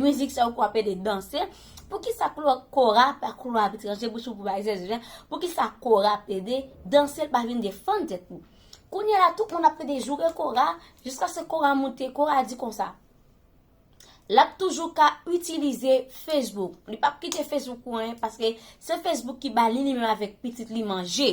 Mizik sa yo ko ape de danse. Poukisa kora pa klo ap etranje bouch ou pou bay zèzè jan. Poukisa kora ap pede danse l pa vin de fann tèt nou. Kounye la tout moun ap pede joure kora jiska se kora moute kora di konsa. Lap toujou ka itilize Facebook. Li pap kite Facebook pou anyen paske se Facebook ki bali li menm avèk pitit li manje.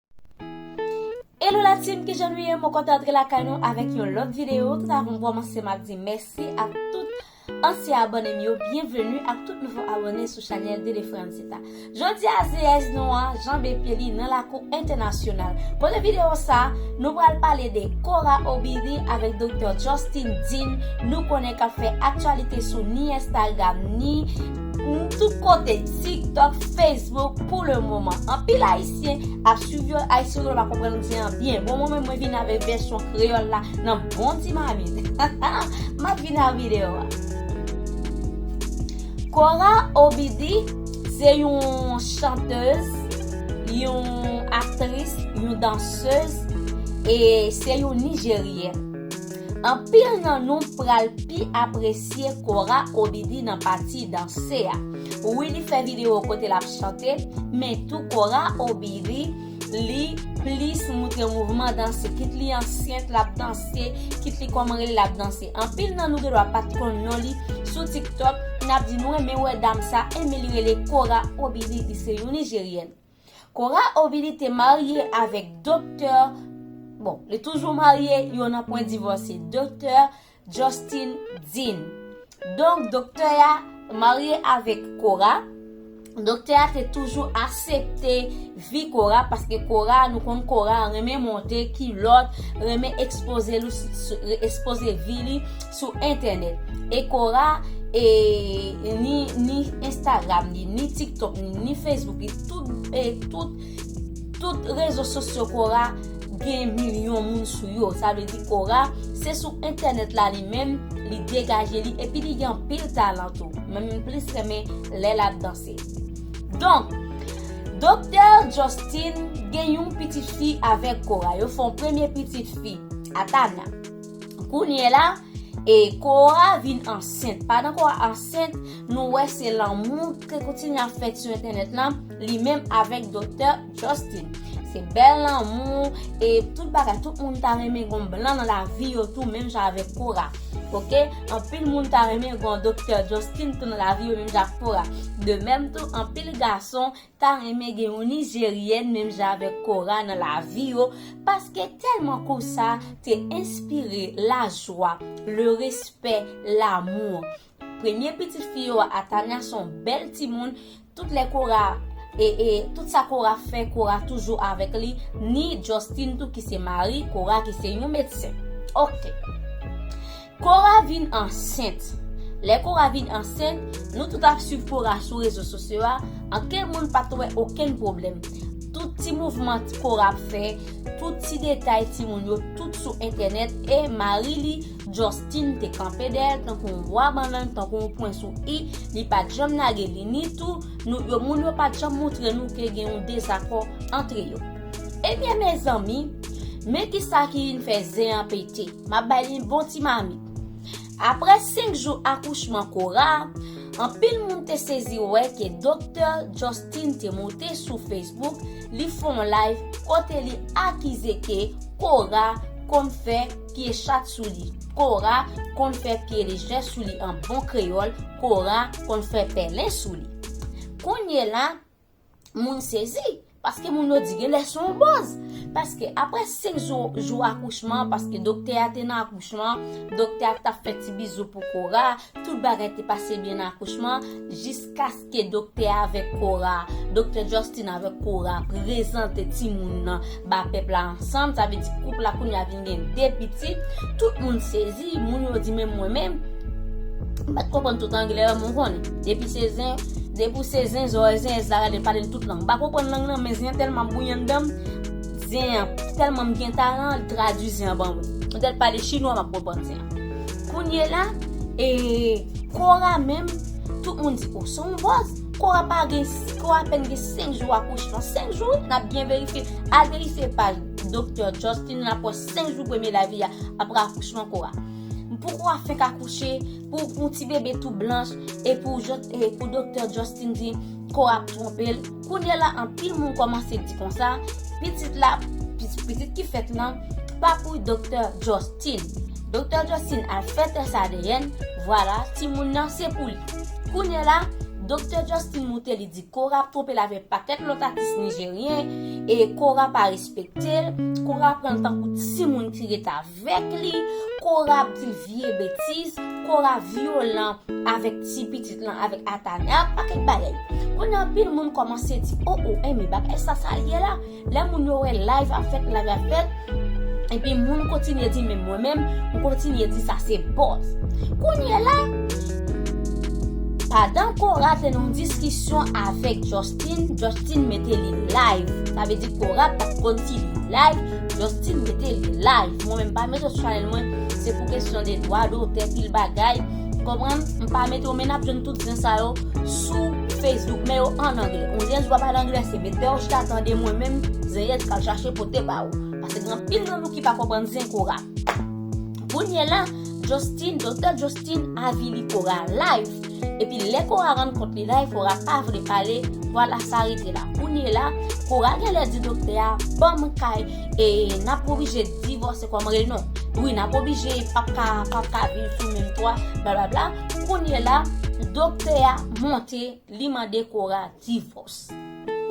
Hello la team kijan nou ye mwen kontan antre lakay nou avèk yon lòt video tout avan m kòmanse map di mèsi ak tout ansyen abòne m yo byenveni ak tout nouvo abòne sou chanèl Dede Francita jodi a zeyèz nou an janbe pye li nan lakou entènasyonal kote video sa nou pral pale de Cora Obiri avèk Doktè Justin Dean nou konnen kap fè aktyalite sou ni Instagram ni tout kote Tik Tok Facebook pou le moman anpil ayisyen Ayisyen ap swiv yo ayisyen yo pa konprann ou di an byen bon mwen menm mwen vin avèk vèsyon kreyòl la nan bon ti mamit map vin a video a Cora OBD se yon chantez yon aktris yon dansez e se yon nijeryèn anpil nan nou pral pi apresye Cora OBD nan pati danse a. Wi li fè video kote lap chante men tou kora obiri li plis moutre mouvman danse kit li ansyent lap danse kit li kòman rele lap danse anpil nan nou gendwa pat konn non li sou tiktok nap di nou renmen wè dam sa enben li rele kora obiri li se yon nijeryèn. Cora Ovili te marye avèk Doktè, bon, li toujou marye, yo nan pwen divòse, Doktè Justin Dean. Donk, doktè a marye avèk Cora, doktè a te toujou asepte vi Cora, paske Cora, nou konn Cora renmen monte kilòt, renmen ekspoze vi li sou entènèt e kora e ni ni instagram li ni tiktok li ni facebook li tout e tout tout rezo sosyo kora gen milyon moun sou yo sa vle di kora se sou entènèt la li menm li degaje li epi li gen pil talan tou menm plis renmen lè lap danse donk doktè jòstin gen yon pitit fi avèk kora yo fon premye pitit fi atana. Kounye la, e Kora vin ansent. Pandan Kora ansent, nou wè se lanmou ki kontinye ap fèt sou entènèt lan, li menm avèk Doktè Justin. Se bèl lanmou, e tout bagay, tout moun ta renmen gon blan nan lavi yo tou menm jan avèk Kora. Ok, anpil moun ta renmen gon Doktè Justin tou nan lavi yo menm jan ak Kora. De menm tou, anpil gason ta renmen gen yon nijeryèn menm jan avèk Cora nan lavi yo paske tèlman Kosa te enspire lajwa, le respè, l'amour. Premye pitit fi yo a Tania son bèl timoun tout lè Cora e e tout sa Cora fè Cora toujou avèk li ni Justin tou ki se mari Cora ki se yon medsen ok. Cora vin ansent Lè Cora vin ansent, nou tout ap swiv Cora sou rezo sosyo a, ankenn moun pa t wè okenn pwoblèm. Tout ti mouvman Cora ap fè, tout ti detay timoun yo, tout sou entènèt e mari li, Justin, te kanpe dèyè l tankou yon bwa bannann, tankou yon pwen sou i, li pa t janm lage li ni tou nou yo moun yo pa t janm montre nou ke gen yon dezakò antre yo. Ebyen mezanmi, men kisa ki vin fè zen an pete. Map bay li bon ti mamit. Aprè 5 jou akouchman Cora, anpil moun te sezi wè ke Doktè Justin te monte sou Facebook li fè yon live kote li akize ke Cora konn fè pye chat sou li, Cora konn fè pye lejè sou li an bon kreyòl, Cora konn fè pèlen sou li. Kounyela, Moun sezi, paske moun yo di gen lè son boz. Paske apre 5 jou, jou akouchman, paske doktè a te nan akouchman, doktè a ta fè ti bizou pou kora, tout bagay te pase byen nan akouchman, jiskaske doktè a avèk kora, doktè Justin avèk kora, prezante ti moun nan. ba pèp la ansanm sa vle di koup la kounye a vin gen 2 pitit tout moun sezi moun yo di menm mwen menm m pat konprann tout anglè an mwen konn depi se zen depi ou se zen zòrèy zen èz la gade pale l tout lang m pa konprann lang nan men zen tèlman ap bouyi anndan m zen an tèlman m gen talan l tradui zen an ban mwen m tèt pale chinwa m ap konprann zen an kounye la e kora menm tout moun di ou son vòz. Kò a pa gen, kò a apèn gen 5 jou akouchman. 5 jou wi, nap byen verifye. Al verifye paj Doktè Justin Laposte 5 jou premye lavi a, apre akouchman kò a. Pou kò a fenk akouche, pou yon ti bebe tou blanch, e pou Doktè Justin di kò a ap twonpe l. Kounye la anpil moun kòmanse di konsa, pitit la, pitit ki fèt lan, pa pou Doktè Justin. Doktè Justin al fè tès adn, vwala, timoun nan se pou li. Kounye la, Doktè Justin moute li di Cora ap twonpe l avè pakèt lòt atis nijeryen e Cora pa respekte l, Cora pran l tankou timoun ki ret avèk li, Cora ap di l vye betiz, Cora vyolan avèk ti pitit lan avèk Atanya, pakèt bagay. Kounye a anpil moun kòmanse di, o o enben bagay sa sa l ye la? Lè moun yo wè live ap fèt live ap fèt epi moun kontinye di men mwen menm m kontinye di sa se buzz kounye la padan Cora te nan yon diskisyon avèk Justin Justin mete li live sa vle di Cora pat konn si li live Justin mete li live mwen menm pa mete sou chanèl mwen se pou kesyon de dwa dotè pil bagay konprann m pa mete men n ap jwenn tout zen sa yo sou Facebook men yo an anglè on dirait wap pale anglè se metew chita tande mwen menm zenyèt kal chache pote ba ou paske gen anpil nan nou ki pa konprann zen kora kounye la Justin doktè Justin avili kora live epi lè kora rann kont li live kora pa vle pale vwala sa rete la kounye la kora genlè di doktè a banm kay e nap oblije divòse kòm rele non wi nap oblije pap ka pap ka viv sou menm twa blablabla. Kounye la, doktè a monte, li mande Cora divòs.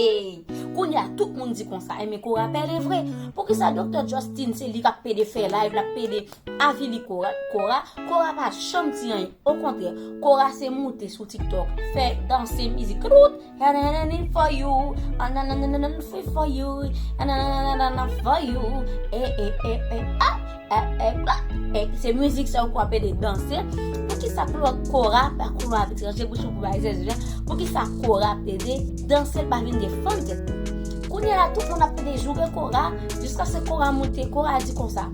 Ey, kounye a tout moun di konsa, enben Cora pèlen vre. Poukisa doktè Justin se li k ap pede fè layv, l ap pede avili Cora? Cora pa janm di anyen, okontrè, Cora se moute sou TikTok, fè danse mizik. Ktout! Nananananann for you ah nananananann free for you ah nananananann for you eh eh eh eh ah eh eh ah eh eh se mizik sa yo pou ap ede danse poukisa pou lòt kora pa kou lwa etranje pou sou kou bay zèzè jan poukisa kora ap ede danse pa vin defann tèt nou kounye la tout moun ap ede joure kora jiskaske kora moute kora di konsa.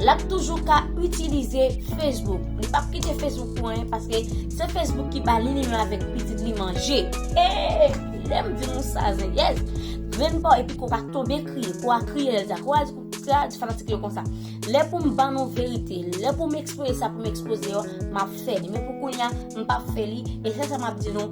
Lap toujou ka itilize Facebook. Li pap kite Facebook pou anyen paske se Facebook ki ba li li menm avèk pitit li manje. Hey! Lèm di nou sa zenyèz. Grenn pa w epi ko pa tonbe kriye. Ko a kriye lèl di a. Ko a di a di fanatik yo konsa. Lè pou m ban nou verite. Lè pou m ekspoze sa pou m ekspoze yo. Map fè li. Men pou kounya m pap fè li. E se sa map di nou.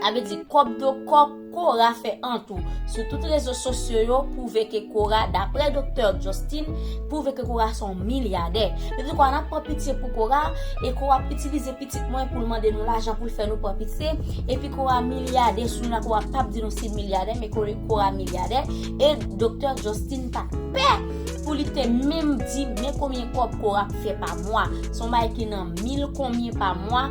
Sa vle di kòb do kòb Cora fè an tou sou tout rezo sosyo yo pwouve ke Cora daprè doktè Justin pwouve ke Cora son milyadè. Yo di Cora nap pran pitye pou Cora e Cora ap itilize pitit mwen poul mande nou lajan poul fè nou pran pitye epi Cora milyadè sou la Cora pap di nou sil milyadè men Cora milyadè e doktè Justin pa pè pou li te menm di men konbyen kòb Cora ap fè pa mwa son bagay ki nan mil konbyen pa mwa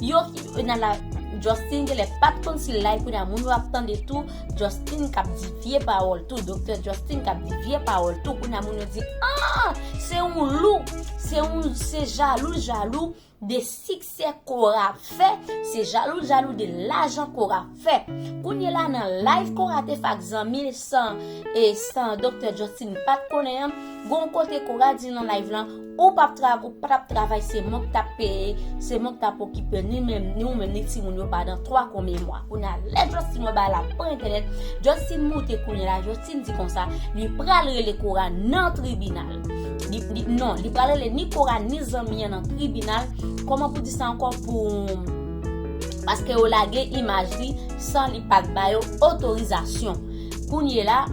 Yo ki nan la Justin genlè pat konn si live kounya moun yo ap tande tou Justin kap di vye pawòl tou Doktè Justin kap di vye pawòl tou kounya moun yo di aah se yon lou se yon se jalou jalou de siksè Cora ap fè se jalou jalou de lajan Cora Fè. Kounye la nan live Cora te fè ak zanmi l san e san Doktè Justin pa t konnen an, gen yon kote Cora di nan live lan, ou pa t ap travay se mwen k t ap peye, se mwen k t ap okipe w ni menm ni ou menm ni timoun yo pandan 3 konbyen mwa. Kounye a lè Justin wè bagay la pa entènèt, Justin moute kounye la Justin di konsa, li pral rele Cora nan tribinal. Non, li pral rele ni Cora ni zanmi an nan tribinal, kòman pou di sa ankò pou. Paske yo lage imaj li san li pat ba yo otorizasyon. Kounye la,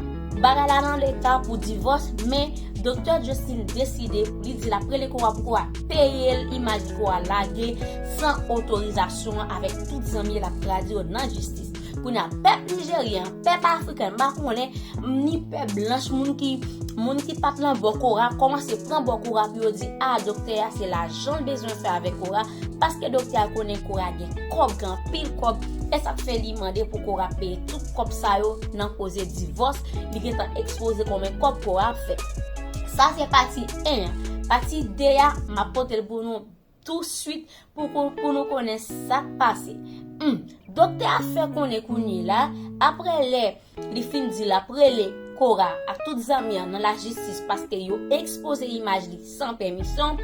bagay la nan leta pou divòs men Doktè Justin deside pou li di lap rele Kowa pou Kowa peye l imaj li Kowa lage san otorizasyon an avèk tout zanmi l lap tradi yo nan jistis. Kounye a pèp Nijeryen, pèp Afriken m pa konnen ni pèp blanch moun ki moun ki pat lan bò Kowa kòmanse pran bò Kowa pou yo di a Doktè a se lajan. janl bezwen fè avèk Cora paske doktè a konnen Cora gen kòb gen anpil kòb esat fè li mande pou Cora peye tout kòb sa yo nan koze divòs li gentan ekspoze konbyen kòb Cora ap fè sa se pati 1 an pati 2 a map potel pou nou tou swit pou nou konnen sak pase humm doktè a fè konnen kounye la aprè lè Li fin di lap rele Cora ak tout zanmi an nan lajistis paske yo ekspoze imaj li san pèmisyon,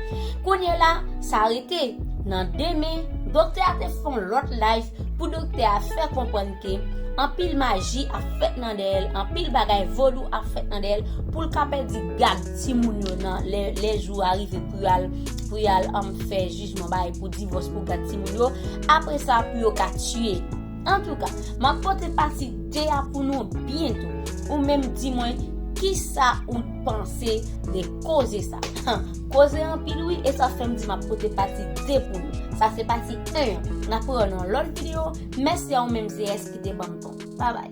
kounye la sa rete nan demen doktè a te fè yon lòt live pou doktè a fè konprann ke anpil maji ap fèt nan dèyè l, anpil bagay vodou ap fèt nan dèyè l pou l ka pèdi gad timoun yo nan lè jou a rive pou yal pou yal fè jijman bay pou divòs pou gad timoun yo apre sa pou yo ka tiye. Antouka, m ap pote pati 2 a pou nou byento. Ou menm di mwen kisa ou panse de koze sa. Koze anpil wi e sa fè m di m ap pote pati 2 pou nou. Sa se pati 1 an. N ap reyon nan lòt videyo. Mèsi a ou menm ZS ki te ban m tan w. Babay.